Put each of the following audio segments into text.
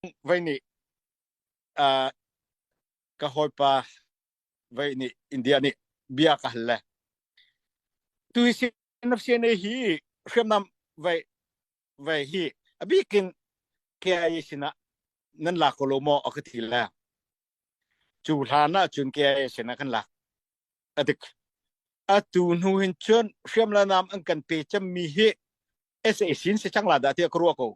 vai nih uh, ka hawipa vai nih India nih bia ka hal le tu hi na sian hi hriamnam vai vai hi abikin ke ai sina nan la ko lo mo aka thi le chu hlan na chun ke ai sina kan la adik atu hnu hin chun hriam la nam an kan pe cham mi hi sasin se chang la da te ko ko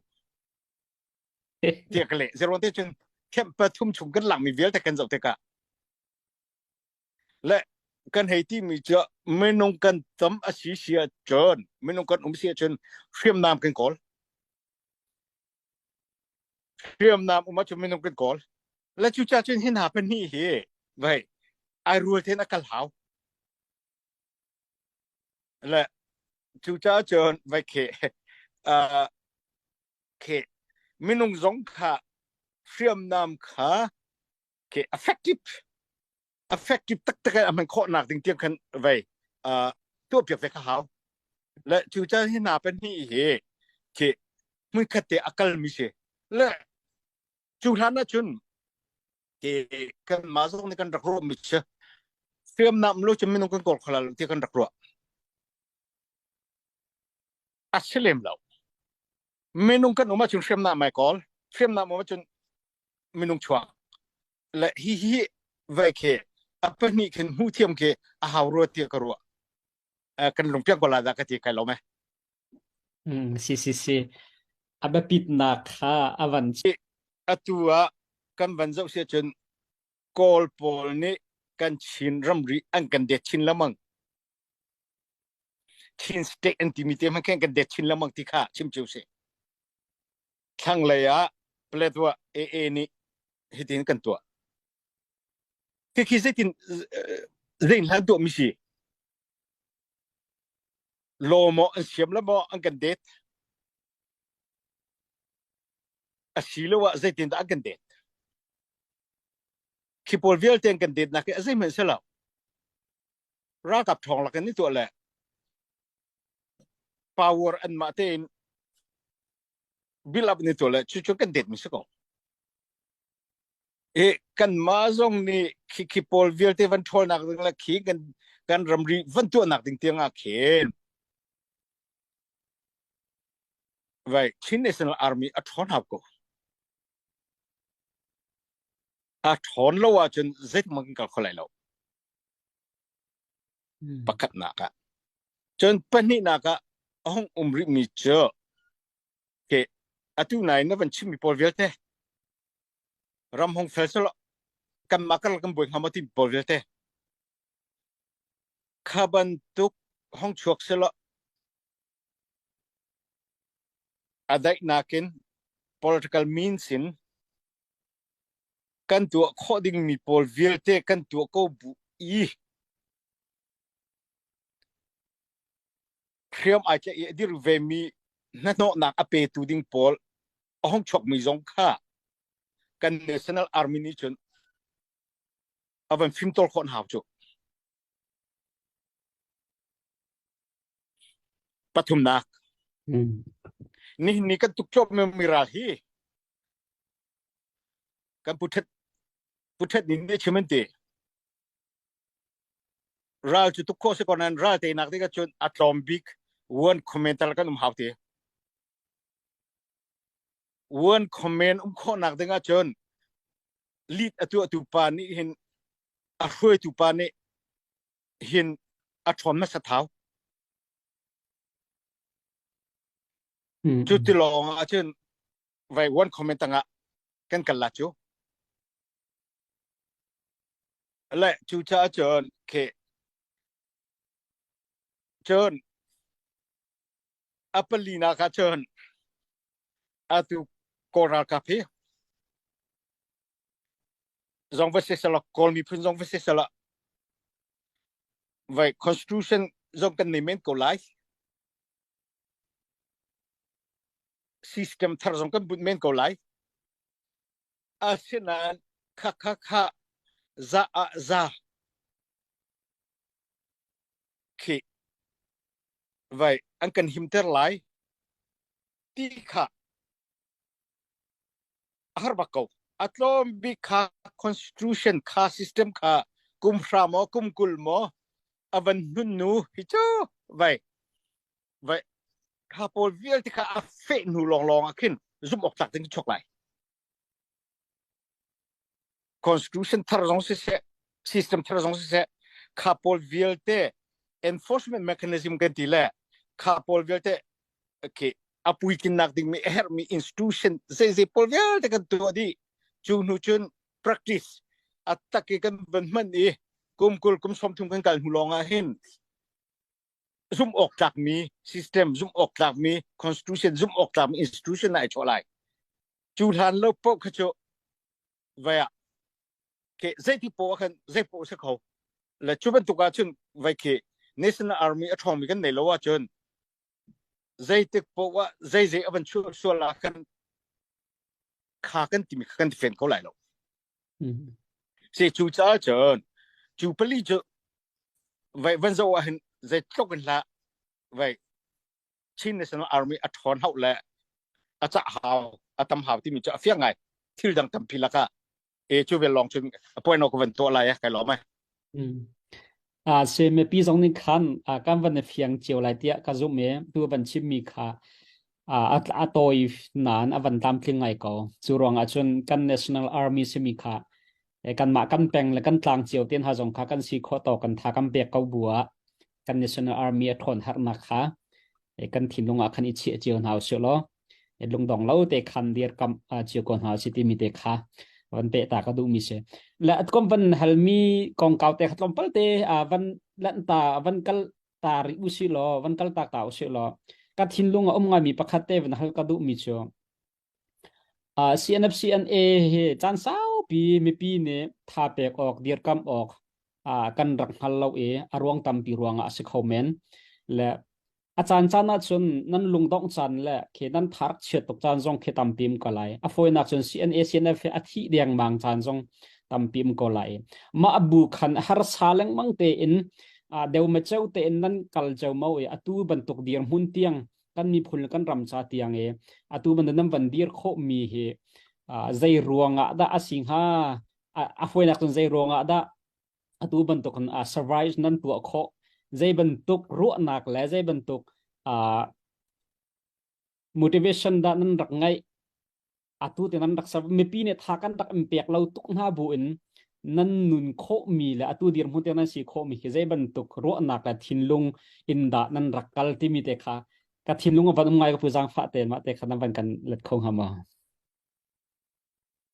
tiah ka leh zeruang te cun camp pathum chung kan langmi vialte kan zoh tikah le kan hei ti mi cu minung kan tam a si sia cun minung kan um sia cun hriamnam kan kawl hriamnam um cu minung kan kawl le cu cha cun hin ha pan hi hi vai ai rual ten a kal hau Le cucaah cun vai khi uh, khi minung zong kha hriamnam kha khi effective effective taktak an man khawh nak ding tiang khan vai uh, tuah piak ve ka hau le cucaah hi na pen hi hi khi mui khat te akal mi si le cu hlan ah cun ke kan ma zong nih kan rak ruah mi si hriam nam lo cun minung kan kor khalal ti kan rak ruah a si lem lo minung kan um ahcun hriam nam mai kol hriam nam um ahcun minung chuak le hi hi vei ke a pahnih khin hmu thiam ke a hau ruat tia ka ruah kan lungpiak ko la dah ka ti kai lom e mm si si si a biapitnak kha a van atu ah kan van zoh si cun kawl pawl nih kan chin ramri an kan det chin lamang Chin state an timi te man khan kan det chin lamang ti kha chim chiu si thlanglei ah Paletwa AA nih hitin kan tuah Khi zeitin zei hlan tuahmi si? Law maw an siam la maw an kan det? Asilo ah zeitin dah an kan det? Khi pawl vialte an kan det nak hi a zeihman se lo. Ralkap thawng lakin ni tuah le power an mah tein Bill up ni tu le chu chu kan det mi si ko. E kan ma zong nih khi khi pawl vialte van ṭhol nak ding le khi kan kan ramri van tuah nak ding tiang a khin. Vai Chin National Army a ṭhon hap ko. A ṭhon lo ah cun zeitik mang kan kal kho lai lo. pakhatnak ah. Cun pahnihnak ah a hung um rihmi cu okay, atu nain na van chimmi pawl vialte ram hong fel selaw kanmah karlak kan buai hnga maw ti pawl vialte kha bantuk hong chuak selaw a daihnak in political means in Kan tuah khawh dingmi pawl vialte kan tuah ko bu i hriam ai tlaih i a dirh vemi hnahnawhnak a petu ding pawl a hong chuakmi zong kha kan National Army nih cun a van fimtawl khawh hau cu. Pathumnak. Mm. Nihin ni kan tuk cuap mi ral hi kan puthet puthet nin ne chimen ti ral cu tuk kho se kon nan ral te nak te ka chun atlom bik one commenter kan um hau ti one comment um kho nak ding a chun lead atu atu pa ni hin a hruaitu pa ni hin a chon na sa thau Cu ti lawng ah cun vai one comment tangah kan kal la cu. Le cu caah cun khi cun a pali na ka cun atu kawl ralkap hi zong va se sala kawl miphun zong va se sala vai constitution zong kan nei men ko lai System thar zong kan bunh men ko lai. Asinain kha kha kha za ah za khi vai an kan himter lai ti kha a har bak ko a tlawm bik kha constitution kha system kha kum hra maw kum kul maw a van nun nu hi cu vai vai kha pawl vialte kha a feh hnu lawnglawng ah khin zumh awk tlak ding chok lai constitution thar zong siseh system thar zong siseh kha pawl vialte enforcement mechanism kan ti le kha pawl vialte okay apui kinnak ding mi herhmi institution zei zei pawl vialte kan tuah di cu hnu cun practice atak i kan van man i kum kul kum som thum kan kal hnu lawngah hin zumhawktlak mi system zumhawktlak mi constitution zumhawktlak mi institution ai chawh lai cu hlan lo poh kha cu vaya ke zeiti po khan zei po se kho la chu bantuk ah chun vai ke national army a thong mi kan nei lo a chun zei tik po wa zei zei aban chu suala kan kha kan ti mi kan fen ko lai lo Si cu caah cun cu pali cu vai van zo ah hin zei tluk in hlah vai Chin National Army a ṭhawn hau le a cah hau a tam hau timi cu a fiang ngai thil dang tampi lakah e cu vel lawng cun a point no ka van tuah lai eh kai lawm ai Mm. Ah, si mipi zong nih khan ah, kan van i fiang cio lai tiah ka zumh i tu van chimmi kha ah, a, a tawi nan a van tlamtling ngai ko. Cu ruangah cun kan National Army simi kha eh, kanmah kan peng le kan tlang cio ten ha zong kha kan si khawh to kan tha kan pek ko bua kan National Army a ṭhawn harnak kha eh, kan thinlung ah khan i chiah cio hna usih law lungdong lo te khan dir kam chiu ko hna si timi te kha van pe ta ka duh mi se la kom van hal mi kong kau te khatlom palte a van lan ta van kal ta ri u si lo van kal ta ka u si lo ka thin lung a um nga mi pakhat te van hal ka duh mi chu a CNFCNA he chan sau pi mi pi ne tha pek ok dir kam ok uh, kan rak hngal lo i a ruang tampi ruangah a si kho men le a caan caan ah cun nan lungdongh caan le khe nan tharak chiat tuk caan zong khe tampim ko lai a fawinak cun CNACNF he a thih dengmang caan zong tampim ko lai mah bu khan har sa lengmang te in uh, deu ma cheu te in nan kal cheu mo i atu bantuk dir mun tiang kan mi phun kan ram cha tiang e atu ban nan van dir kho mi hi uh, zei ruangah da a si hnga a fawinak cun zei ruangah dah atu bantuk in uh, survive nan tuah khawh zei bantuk ruahnak le zei bantuk uh, motivation dah nan rak ngeih atu te nan rak serve mipi nih tha kan rak in pek lo tuk hna bu in nan nun khawh mi le atu dir hmu te nan si khawh mi khi zei bantuk ruahnak le thinlung in dah nan rak kal timi te kha ka thinlung van um ngai ka pu zang fa te ma te kha nan van kan let kho hama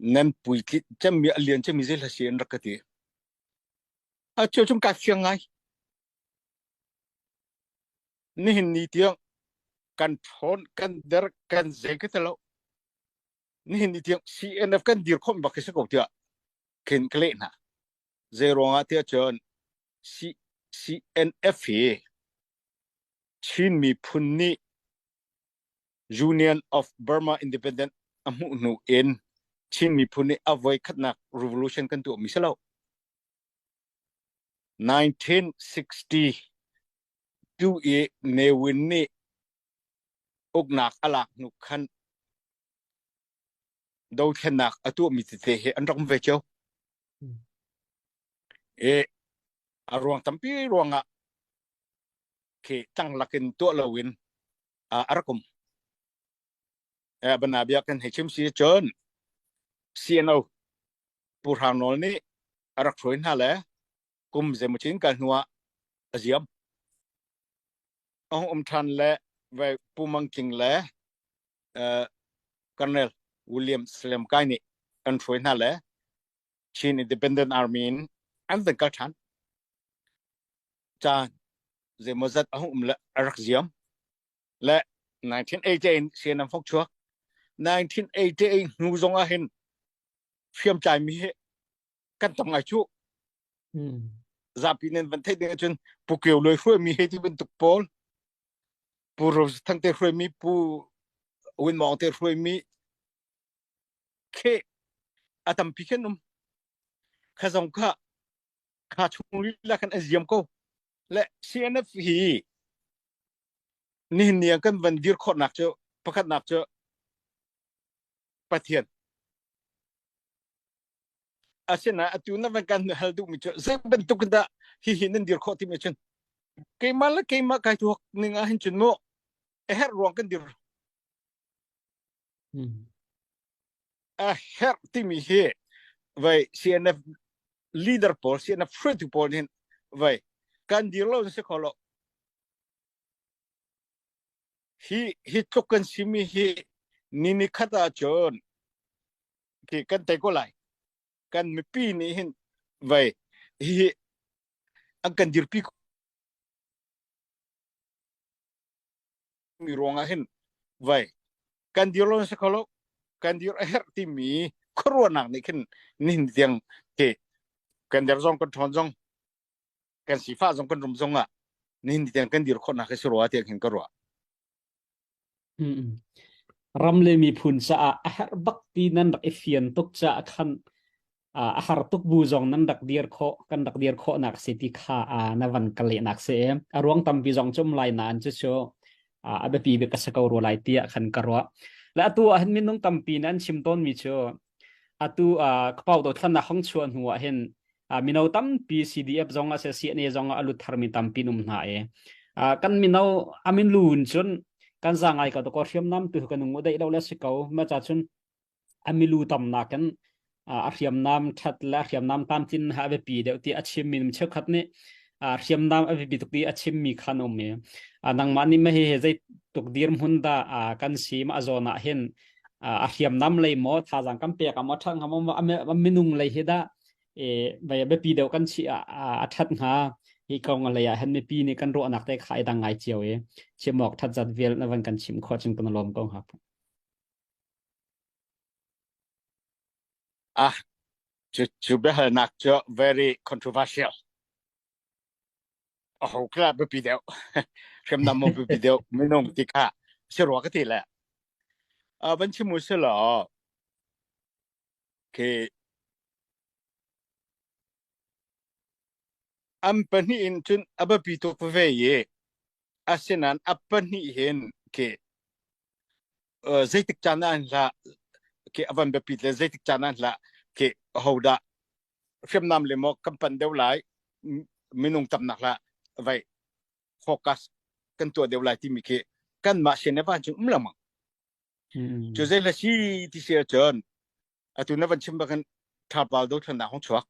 nan puitlit cemmi a lian cemmi zeihla si an rak ka ti. A cio chung kai fiang ngai. Nihin ni tiang kan phone kan der kan zei ka telo. Nihin ni tiang CNF kan dir khom bak si ko tiah khin ka leh hna. Zei ruangah tiah cun CNF hi Chin miphun nih Union of Burma Independent a hmuh hnu in Chin miphun nih a voikhatnak revolution kan tuahmi si lo. 1962 i Ne Win nih uknak a lak hnu khan dothlennak a tuahmi tete hi an ram ve cio. I a ruang tampi ruangah khi tang lakin tuah loin a rak um bana bia kan hei chim si cun CNO pu hrang nawl nih a rak hruai hna le kum zemachin kal hnuah a ziam ahung um ṭhan le ve pu mang king le colonel william slam kai nih an hruai hna le Chin Independent Army in an zan kal ṭhan. Caan zeimaw zat a hum le a rak ziam. Le 1988 sen an fok chuak. 1988 hnu zong ah hin fiam cai mi he kan tong ai chu. Zapi nen van thei ding ahcun pu keu loi hruai mi he ti bantuk pawl. Pu Rose Thang te hruai mi, pu Win Mong te hruai mi, khe a tampi khen um kha zong kha kha chung la khan a ziam ko le CNF hi nihin niang kan van dir khawrnak cu pakhatnak cu pathian asina atu na van kan hal duh mi cu zei bantuk dah hi hi nan dir khawh ti mi chun keimah la keimah kai thuak ning a hin chun mo eher ruang kan dir A herh timi hi vai CNF leader pawl CNF hruaitu pawl nih vai kan dir lo si kho lo hi hi tluk kan simi hi ni ni khat ah cun khi kan tei ko lai kan mipi nih hin vai hi an kan dirpi mi ruangah hin vai kan dir lo si kholo kan dir a herh timi khuaruahnak nih khin nihin tiang ke kan der zong kan ṭhawn zong kan sifa zong kan rum zong ah nihin tiang kan dir khawhnak hi si rua tiang hin ka ruah ram le miphun caah a herh bak ti nan rak i fian tuk caah khan uh, a har tuk bu zong nan rak dir khawh kan rak dir khawhnak si ti kha uh, na van ka lehnak si em a ruang tampi zong cum lai na an chu chu uh, a biapi bik ka sa ko ru lai tiah khan ka ruah le atu ah hin minung tampi nan chim tawn mi chu atu uh, kapau do thlan na hong chua hnu ah hin uh, mino tampi CDF zong a se CNA zong a lut thar mi tampi num hna e uh, kan mino amin lun chun kan zangai ka to ko hriam nam tu kanung udai lo le si ko ma cha chun a milu tamnak in a hriamnam that le hriamnam tlamtlin ha a biapi deuh ti a chim mi cheukhat nih hriamnam a biapi tuk i a chim mi khan um i nangmah nih mah hi zei tuk dir hmun da kan si ma zawn ah hin a hriamnam lei mo thazang kan pek am a that ngam a minung lei hi da vai a biapi deuh kan si a that hnga hi kong lei ah hen mipi nih kan ruah nak te khai dang ngai cio i chimok that zat vial na van kan chim kho ching kan lom ko hap Ah, cu, cu biahalnak cu very controversial. A ho kha biapi deuh. Hriamnam maw biapi deuh. Minung ti kha si rua ka ti le. Ah, van chim u si law, khi an pahnih in cun a biapi tuk veve i, Asinain a pahnih hin ke zeitik caan ah an hlah ke a van biapit le zeitik caan ah an hlah ke hodah hriamnam le maw kan pan deuh lai minung tamnak hlah vai focus kan tuah deuh lai timi khi kan mah sin evan cu um lamang cu zei la si ti si cun atu na van chim bak in tharpal do thlan na hong chuak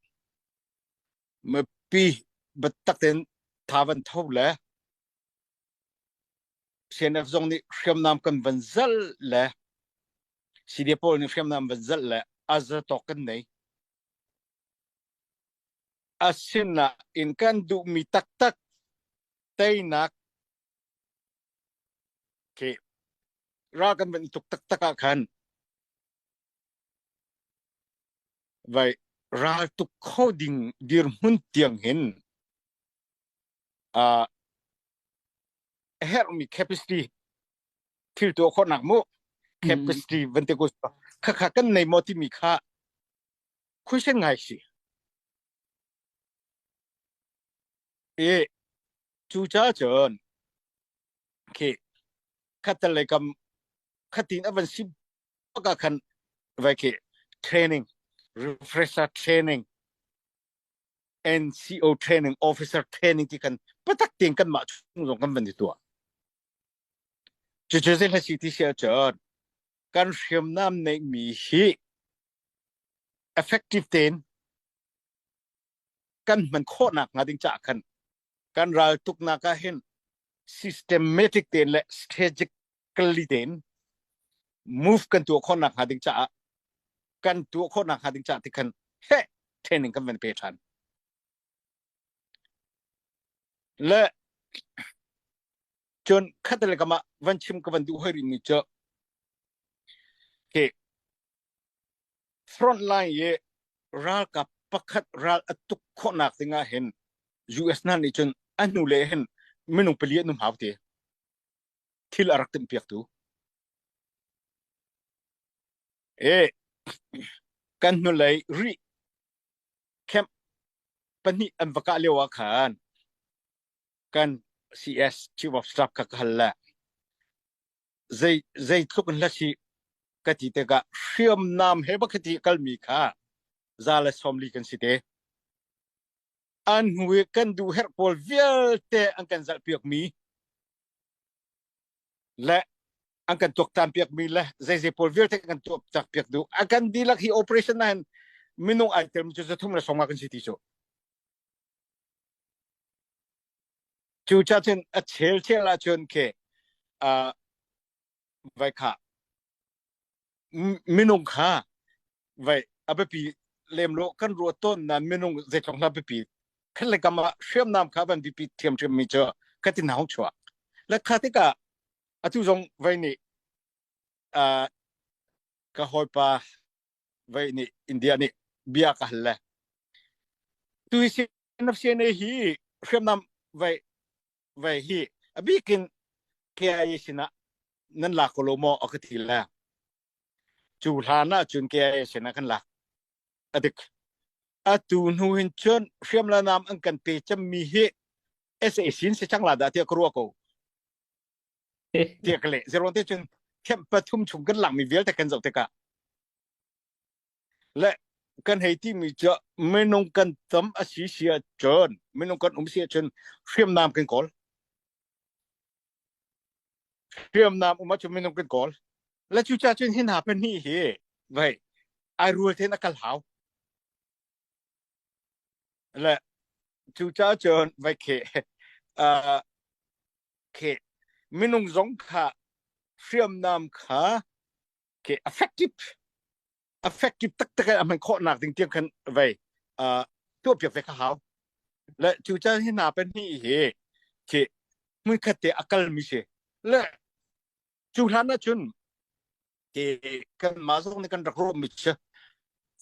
Mipi biatak tein tha van tho le CNF zong nih hriamnam kan van zelh le CDA pawl nih hriamnam van zelh le azatawk kan nei. Asinah in kan duhmi taktak teinak ke ral kan van tuk taktak ah khan Vai raltuk kho ding dirhmun tiang hin uh, a herhmi capacity thil tuah khawhnak mu capacity mm. vante ku kha kha kan nei mo timi kha question ngai si e cu cha chon khi khatal lekam khatin avan sim ka khan vai khi training refresher training NCO training officer training ti kan patak ting kan mah chung zong kan van di tua cu cu zin la si ti sia chon kan hriam nam nei mi hi effective ten kan hman khawh nakhnga ding caah khan kan raltuknak ah hin systematic tein le strategically tein move kan tuah khawh nakhnga ding caah kan tuah khawh nakhnga ding caah ti khan he training kan van pe ṭhan le cun khatale kamah van chim ka van duh hoi ri mi cu hi Frontline i ralkap pakhat ral a tuk khawhnak ding ah hin US hna nih cun a hnule hin minung pali an um hau ti. Thil a rak timh piaktu. E, kan hnulei ri camp pahnih an va kah lio ah khan kan CS Chief of Staff kha ka hal le zei zeitluk in hla si ka ti tikah hriamnam he bakhat i kalmi kha za le sawmli kan si te an hnu i kan duh herh pawl vialte an kan zalh piakmi le an kan tuak tan piakmi le zeizei pawl vialte kan tuak tak piak duh a kan dilak hi operation nain minung ai telmi cu zathum le sawma kan si ti cu Cu cah cun a chel thial ahcun khi uh, vai kha minung kha vai a biapi lem lo kan ruat ton na minung zeitlong hla biapi khat le kam ah hriam nam kha van bipi thiam thiam mi cu ka tin hau chuak la kha tika atu zong vai nih uh, ka hoipa vei nih India nih bia ka hal le tu na siane hi hriamnam vei vei hi abikin KIA sinah nan lak ko lo maw a ka ti le cu hlan ah cun KIA sinah kan lak adik atu hnu hin cun hriam la nam an kan pe cham mi hi SAC si chang la da tia ka ruwa ko tiak le zero te cun camp pathum chung kan langmi vialte kan zoh tikah le kan hei ti mi cu minung kan tam a si sia cun minung kan um sia cun hriamnam kan kawl hriamnam um cu minung kan kawl le cu cha cun hin ha pen hi hi vai ai rual ten a kal hau le cu cha cun vai khe uh, khi minung zong kha hriamnam kha khi effective effective taktak an man khawh nak ding tiang khan vei uh tuah piak ve kha hau le cu chan hi na pen ni hi khi mun khat te akal mi se le chu hlan na chun ke kan ma zong ne kan rak ro mi che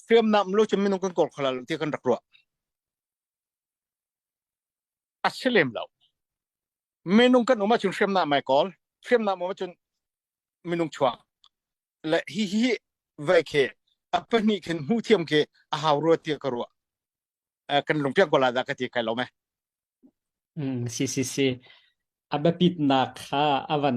hriamnam lo chu minung kan kor khalal ti kan rak ro a si lem lo minung kan um ahcun hriamnam mai kawl hriamnam um ahcun minung chuak le hi hi vei khi a pahnih khin hmu thiam khi a hau rua tia ka rua kan lungpiak gola da ka ti kai lo me si si si a biapitnak kha a van